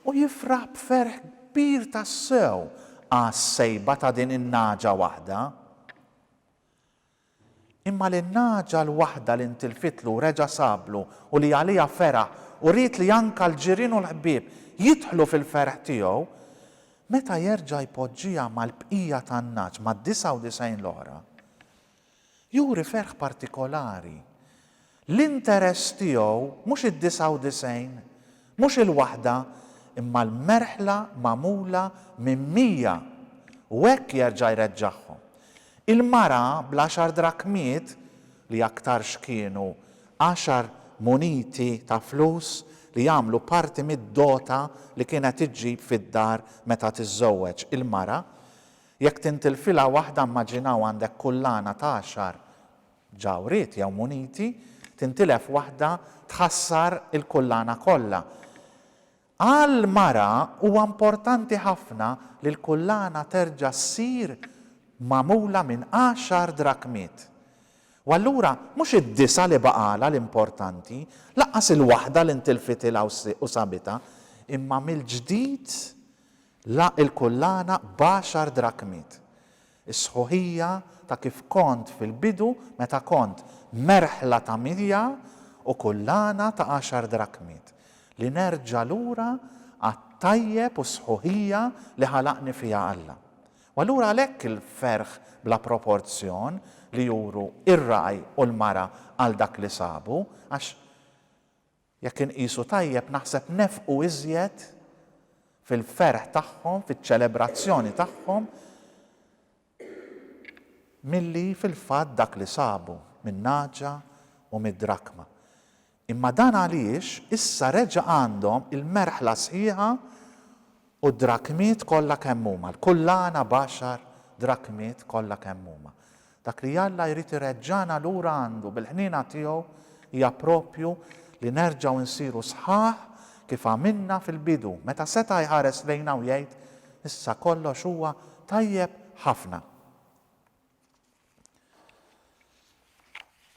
Speaker 1: u jifraħ b'ferħ kbir tassew għas-sejba ta' din in-nagħġa waħda. Imma lin-nagħġa l-waħda li ntilfitlu reġa' sablu u li għaliha feraħ u ried li anka l-ġirien u l-ħbieb jidħlu fil-ferħ tiegħu, meta jerġa' jpoġġiha mal-bqija tan-nagħaġ, mad-disgħa u disgħin l-oħra, juri ferħ partikolari. L-interess tiegħu mhux id-99, mhux il-waħda, imma l-merħla magħmula minn mija, u hekk jerġa' jreġġagħhom. Il-mara bl-għaxar drakmiet, li aktar x'kienu għaxar muniti ta' flus li jagħmlu parti mid-dota li kienet iġġib fid-dar meta tiżżewweġ, il-mara, jekk tintilfilha waħda immaġinaw għandek kullana t'għaxar Ġawhriet jew muniti, tintilef waħda tħassar il-kullana kollha. Għal mara huwa importanti ħafna li l-kullana terġa' ssir magħmula minn għaxar drakmiet. U allura mhux id-disgħa li baqgħalha l-importanti, lanqas il-waħda li ntilfitilha u sabitha, imma mill-ġdid la il-kullana b'għaxar drakmiet. Is-sħuħija ta' kif kont fil-bidu meta kont merħla ta' milja u kullana ta' għaxar drakmiet, li nerġa' lura għat-tajjeb u s-sħuħija li ħalaqni fiha Alla. U allura għalhekk il-ferħ bla proporzjon li juru r-ragħaj u l-mara għal dak li sabu, għax, Jekk inqisu tajjeb naħseb nefqu iżjed fil-ferħ tagħhom, fiċ-ċelebrazzjoni tagħhom milli fil-fatt dak li sabu min-nagħġa u mid-drakma. Imma dan għaliex issa reġa' għandhom il-merħla sħiħa U d-drakmiet kollha kemm huma, l-kullana b'għaxar drakmiet kollha kemm huma. Dak li Alla jrid ireġġagħna lura għandu, bil-ħniena tiegħu, hija proprju li nerġgħu nsiru sħaħ kif għamilna fil-bidu, meta seta' jħares lejna u jgħid, Issa kollox huwa tajjeb ħafna.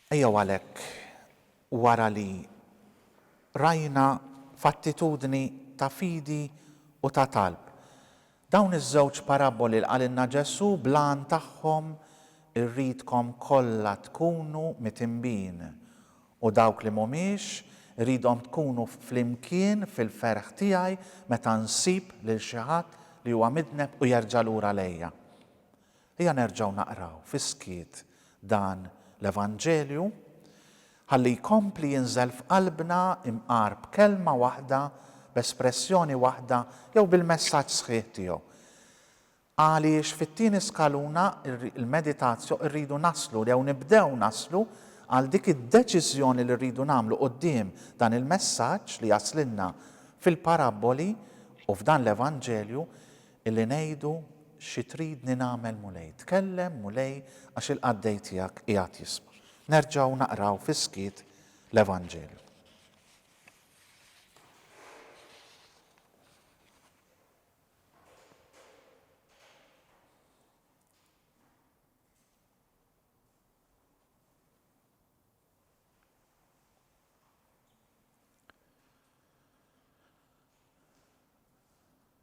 Speaker 1: Ejjew għalhekk, wara li rajna f'attitudni ta' fidi u ta' talb, dawn iż-żewġ parabboli li qalilna Ġesù bl-għan tagħhom irridkom kollha tkunu mitinbin, u dawk li mhumiex, irridhom tkunu flimkien fil-ferħ tiegħi meta nsib lil xi ħadd li huwa midneb u jerġa' lura lejja. Ejja nerġgħu naqraw fis-skiet dan l-Evanġelju ħalli jkompli jinżel f'qalbna imqar b'kelma waħda, b'espressjoni waħda jew bil-messaġġ sħiħ tiegħu. Għaliex fit-tieni skaluna, il-meditatio, irridu naslu jew nibdew naslu għal dik id-deċiżjoni li rridu nagħmlu quddiem dan il-messaġġ li jaslilna fil-parabboli u f'dan l-Evanġelju, Illi ngħidu, Xi tridni nagħmel, Mulej? Tkellem, Mulej, għax il-qaddej tiegħek qiegħed jisma'. Nerġgħu naqraw fis-skiet l-Evanġelju.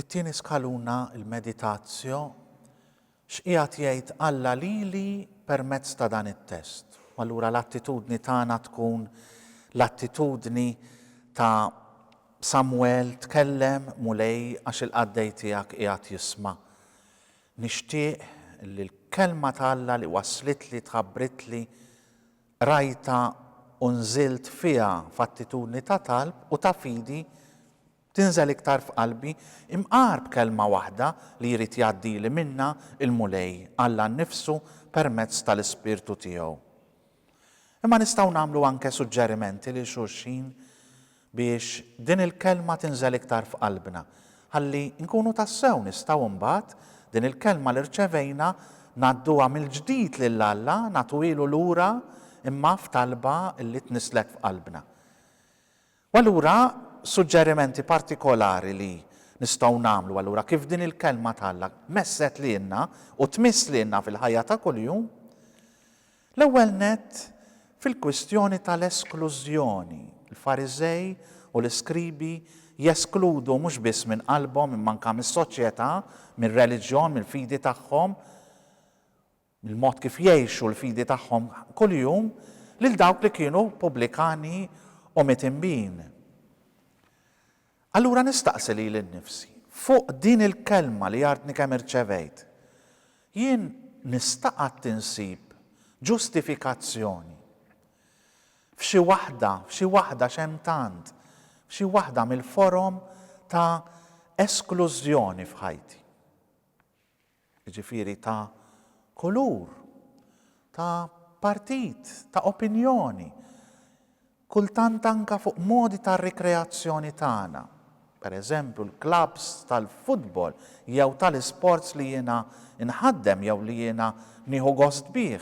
Speaker 1: It-tieni skaluna, il-meditatio, X'qiegħed jgħid Alla lili permezz ta' dan it-test? U allura l-attitudni tagħna tkun l-attitudni ta' Samwel, Tkellem, Mulej, għax il-qaddej tiegħek qiegħed jisma'. Nixtieq li l-Kelma ta' Alla li wasslitli, tħabbritli, qrajtha u nżilt fiha f'attitudni ta' talb u ta' fidi Tinżel iktar f'qalbi, imqar b'kelma waħda li jrid jgħaddili minnha l-Mulej, Alla nnifsu permezz tal-Ispirtu tiegħu. Imma nistgħu nagħmlu anke suġġerimenti lil xulxin biex din il-kelma tinżel iktar f'qalbna, ħalli nkunu tassew nistgħu mbagħad din il-kelma li rċevejna ngħadduha mill-ġdid lil Alla, nagħtuhielu lura imma f'talba li tnisslek f'qalbna. U allura suġġerimenti partikolari li nistgħu nagħmlu allura kif din il-Kelma t'Alla messet lilna u tmiss lilna fil-ħajja ta' kuljum, l-ewwel nett fil-kwistjoni tal-esklużjoni, il-Fariżej u l-iskribi jeskludu mhux biss minn qalbhom imma anke mis-soċjetà, mir-reliġjon, mill-fidi tagħhom, mill-mod kif jgħixu l-fidi tagħhom kuljum lil dawk li kienu pubblikani u mitinbin. Allura nistaqsi lili nnifsi, fuq din il-kelma li għadni kemm irċevejt, jien nista' qatt insib ġustifikazzjoni f'xi waħda, f'xi waħda x'hemm tant, f'xi waħda mill-forom ta' esklużjoni f'ħajti? jiġifieri ta' kulur, ta' partit, ta' opinjoni, kultant anke fuq modi ta' rikreazzjoni tagħna, pereżempju l-klabbs tal-futbol jew tal-isports li jiena nħaddem jew li jiena nieħu gost bih,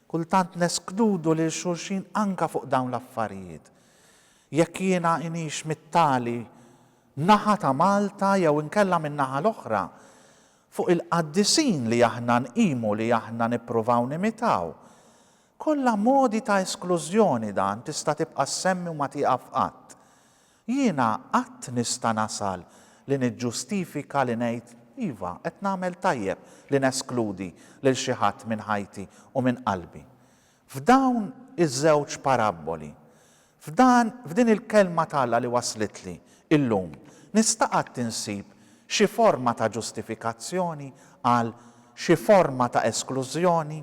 Speaker 1: kultant neskludu lil xulxin anke fuq dawn l-affarijiet. Jekk jiena inix mit-tali naħa ta' Malta jew inkella min-naħa l-oħra, fuq il-qaddisin li aħna nqimu li aħna nippruvaw nimitaw. Kollha modi ta' esklużjoni dan tista' tibqa' ssemmi u ma tieqaf qatt. Jiena qatt nista' nasal li niġġustifika li ngħid iva qed nagħmel tajjeb li neskludi lil xi ħadd minn ħajti u minn qalbi. F'dawn iż-żewġ parabboli, f'dan, f'din il-Kelma t'Alla li waslitli llum, nista' qatt insib xi forma ta' ġustifikazzjoni għal xi forma ta' esklużjoni?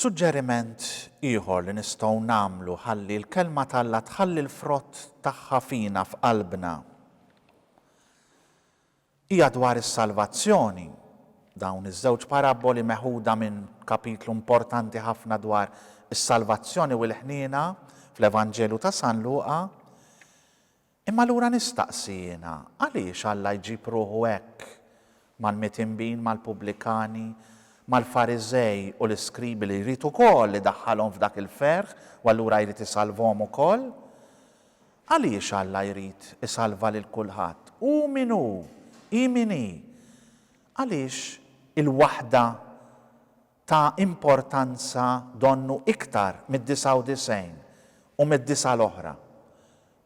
Speaker 1: Suġġeriment ieħor li nistgħu nagħmlu ħalli l-Kelma t'Alla tħalli l-frott tagħha fina, f'qalbna, hija dwar is-salvazzjoni. Dawn iż-żewġ parabboli meħuda minn kapitlu importanti ħafna dwar is-salvazzjoni u l-ħniena fl-Evanġelju ta' San Luqa, Imma allura nistaqsi jiena, għaliex Alla jġib ruħu hekk mal-mitinbin, mal-pubblikani, mal-Fariżej u l-iskribi li jrid ukoll idaħħalhom f'dak il-ferħ u allura jrid isalvhom ukoll? Għaliex Alla jrid isalva lil kulħadd? Hu min hu, hi min hi. Għaliex il-waħda ta' importanza donnu iktar mid-99 u mid-disgħa l-oħra,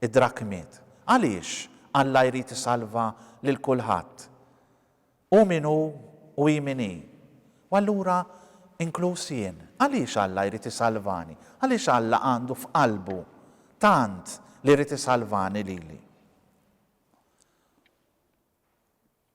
Speaker 1: id-drakmiet. Għaliex Alla jrid isalva lil kulħadd, hu min hu u hi min hi, u allura inkluż jien? Għaliex Alla jrid isalvani? Għaliex Alla għandu f'qalbu tant li jrid isalvani lili?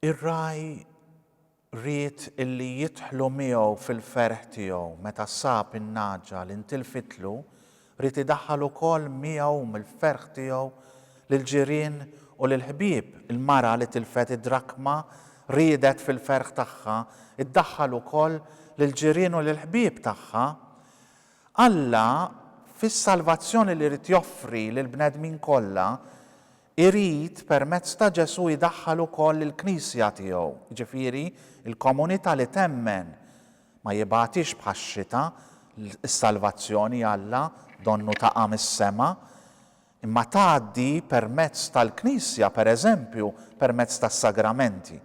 Speaker 1: Ir-ragħaj ried illi jidħlu miegħu fil-ferħ tiegħu meta sab in-nagħġa li ntilfitlu Ried idaħħal ukoll miegħu u mill-ferħ tiegħu lill-ġirien u lill-ħbieb. Il-mara li tilfet id-drakma riedet fil-ferħ tagħha ddaħħal ukoll lill-ġirien u lill-ħbieb tagħha. Alla, fis-salvazzjoni li ried joffri lill-bnedmin kollha, irid permezz ta' Ġesù jdaħħal ukoll il-Knisja tiegħu, jiġifieri l-komunità li temmen Ma jibgħatix bħax-xita, is-salvazzjoni, Alla, donnu taqa' mis-sema, imma tgħaddi permezz tal-Knisja, pereżempju, permezz tas-sagramenti.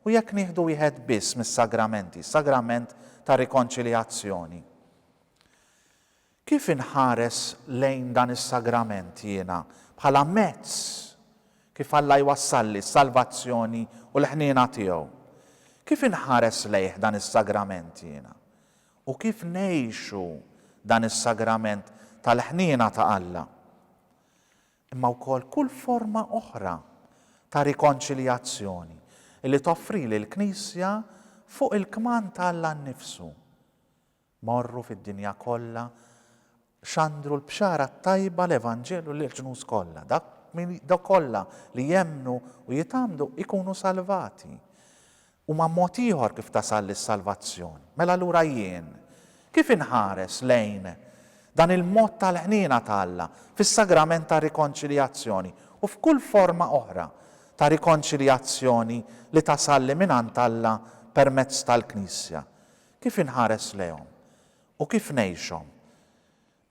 Speaker 1: U jekk nieħdu wieħed biss mis-sagramenti, s-sagrament tar-rikonċiljazzjoni, Kif inħares lejn dan is-sagrament jiena? Bħala mezz kif Alla jwassalli s-salvazzjoni u l-ħniena tiegħu. Kif inħares lejh dan is-sagrament jiena? U kif ngħixu dan is-sagrament tal-ħniena ta' Alla? Imma wkoll kull forma oħra ta' rikonċiljazzjoni li toffrili l-Knisja fuq il-kmand ta' Alla nnifsu. Morru fid-dinja kollha, xandru l-bxara t-tajba, l-evanġelju, lill-ġnus kollha. Dak min, dawk kollha li jemmnu u jitgħammdu jkunu salvati. Huma mod ieħor kif tasalli s-salvazzjoni. Mela allura jien kif inħares lejn dan il-mod tal-ħniena ta' Alla fis-sagrament tar-rikonċiljazzjoni u f'kull forma oħra ta' rikonċiljazzjoni li tasalli mingħand Alla permezz tal-Knisja? Kif inħares lejhom u kif ngħixhom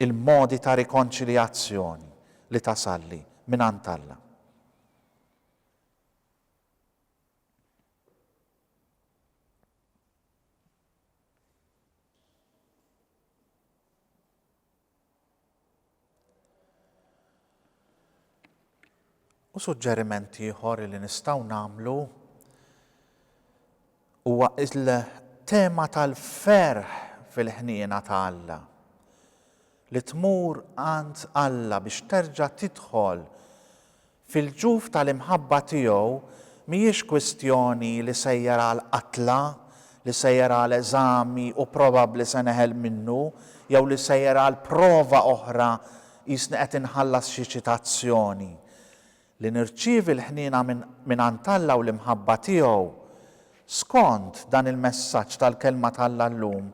Speaker 1: il-modi ta' rikonċiljazzjoni li tasalli mingħand Alla? U suġġeriment ieħor li nistgħu nagħmlu huwa il-tema tal-ferħ fil-ħniena ta' Alla. Li tmur għand Alla biex terġa' tidħol Fil-ġuf tal-imħabba tiegħu mhijiex kwistjoni li sejjer għal qatla, li sejjer għal eżami u probabbli se neħel minnu, jew li sejjer għal prova oħra qisni qed inħallas xi ċitazzjoni. Li nirċievi l-ħniena mingħand Alla u l-imħabba tiegħu, skond dan il-messaġġ tal-Kelma t'Alla llum,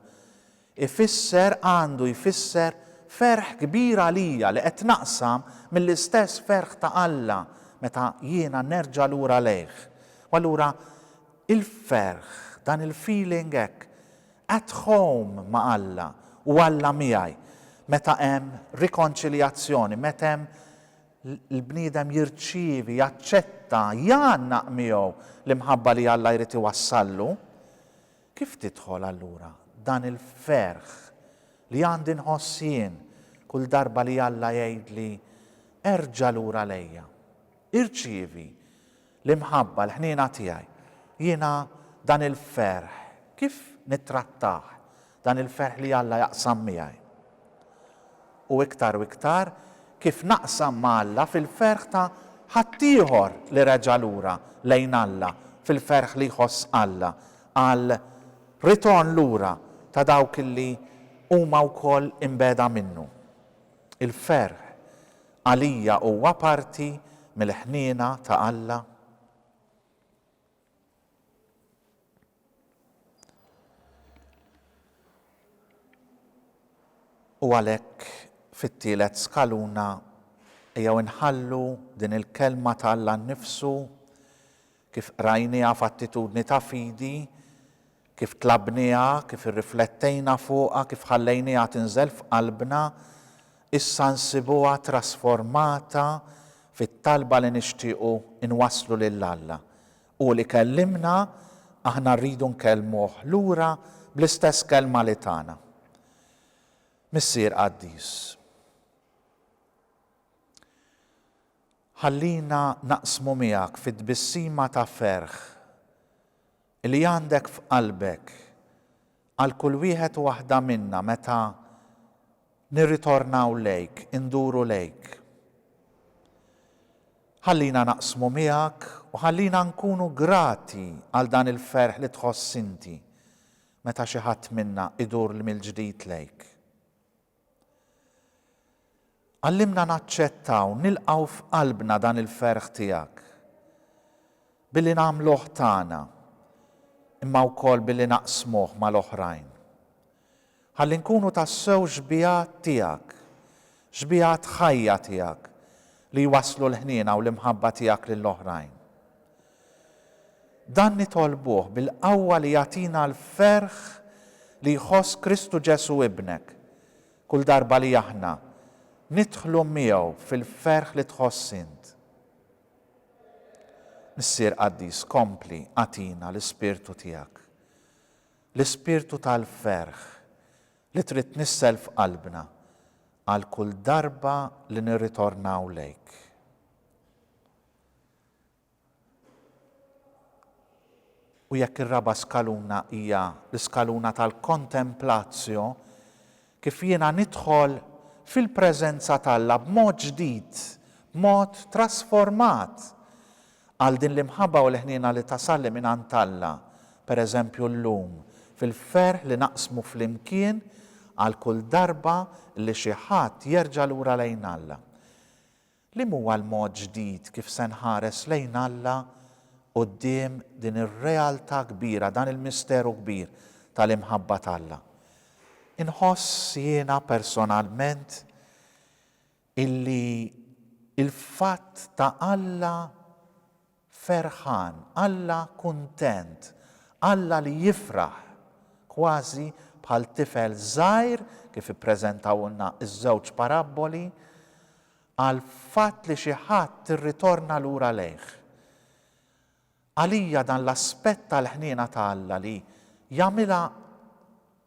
Speaker 1: Ifisser, għandu jfisser, ferħ kbir għalija li qed naqsam mill-istess ferħ ta' Alla meta jiena nerġa' lura lejh. U allura il-ferħ, dan il-feeling hekk at home ma' Alla u Alla miegħi, meta hemm rikonċiljazzjoni, meta hemm l-bniedem jirċievi, jaċċetta, jgħannaq miegħu l-imħabba li Alla jrid iwassallu, Kif tidħol allura dan il-ferħ li għandi nħoss jien kull darba li Alla jgħidli, Erġa' lura lejja. Irċievi l-imħabba, l-ħniena tiegħi. Jiena dan il-ferħ kif nittrattah, dan il-ferħ li Alla jaqsam miegħi? u iktar u iktar, kif naqsam ma' Alla fil-ferħ ta' ħaddieħor li reġa' lura lejn Alla, fil-ferħ li jħoss Alla għal ritorn lura ta' dawk li huma wkoll imbegħda minnu. Il-ferħ għalija huwa parti mill-ħniena ta' Alla? U għalhekk fit-tielet skaluna ejjew inħallu din il-Kelma ta' Alla nnifsu, kif qrajniha f'attitudni ta' fidi, Kif tlabniha, kif irriflettejna fuqha, kif ħallejniha tinżel f'qalbna, issa nsibuha trasformata fit-talba li nixtiequ nwasslu lil Alla. Hu li kellimna, aħna rridu nkellmuh lura bl-istess kelma li tana. Missier qaddis, ħallina naqsmu miegħek fit-tbissima ta' ferħ Li għandek f'qalbek għal kull wieħed u waħda minna meta nirritornaw lejk, induru lejk. Ħallina naqsmu miegħek u ħallina nkunu grati għal dan il-ferħ li tħoss inti meta xi ħadd minna idur mill-ġdid lejk. Għallimna naċċettaw, nilqgħu f'qalbna dan il-ferħ tiegħek billi nagħmluh tagħna, imma wkoll billi naqsmuh mal-oħrajn. Ħalli nkunu tassew xbieha tiegħek, xbieha tħajja tiegħek li jwasslu l-ħniena u l-imħabba tiegħek lill-oħrajn. Dan nitolbuh bil-qawwa li jagħtina l-ferħ li jħoss Kristu Ġesù Ibnek, kull darba li aħna nidħlu miegħu fil-ferħ li tħoss int. Missier qaddis, kompli agħtina l-ispirtu tiegħek, l-ispirtu tal-ferħ li trid tnissel f'qalbna għal kull darba li nirritornaw lejk. U jekk ir-raba' skaluna hija l-iskaluna tal-kontemplatio, kif jiena nidħol fil-preżenza t'Alla b'mod ġdid, b'mod trasformat, għal din l-imħabba u l-ħniena li tasalli mingħand Alla, per eżempju llum, fil-ferħ li naqsmu flimkien għal kull darba li xi ħadd jerġa' lura lejn Alla. Liem huwa l-mod ġdid kif se nħares lejn Alla quddiem din ir-realtà kbira, dan il-misteru kbir tal-imħabba t'Alla? Inħoss jiena personalment illi l-fatt ta' Alla Ferħan, Alla kuntent, Alla li jifraħ, kważi bħal tifel żgħir kif ippreżentawlna ż-żewġ parabboli, għall-fatt li xi ħadd irritorna lura lejh. Għalija dan l-aspett tal-ħniena ta' Alla li jagħmilha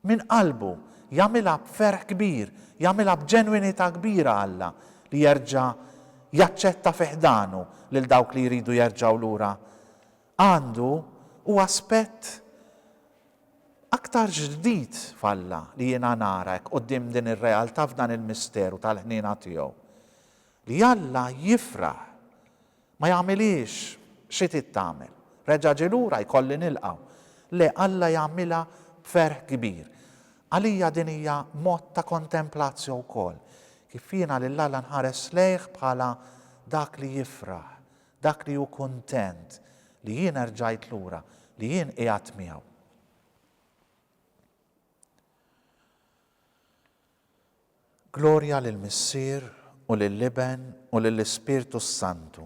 Speaker 1: Minn qalbu, jagħmilha b'ferħ kbir, jagħmilha b'ġenwinità kbira Alla li jerġa' jaċċetta fi ħdanu lil dawk li jridu jerġgħu lura għandu hu aspett aktar ġdid f'Alla li jiena nara hekk quddiem din ir-realtà f'dan il-misteru tal-ħniena tiegħu. Li Alla jifraħ Ma jagħmilhiex, xi trid tagħmel? Reġa' ġie lura, jkolli nilqa'. Le, Alla jagħmilha b'ferħ kbir. Għalija din hija mod ta' kontemplatio wkoll, kif jiena lil Alla nħares lejh bħala Dak li jifraħ, Dak li hu kuntent li jien erġajt lura, li jien qiegħedt miegħu. Glorja lill-Missier, u lill-Iben, u lill-Ispirtu s-Santu.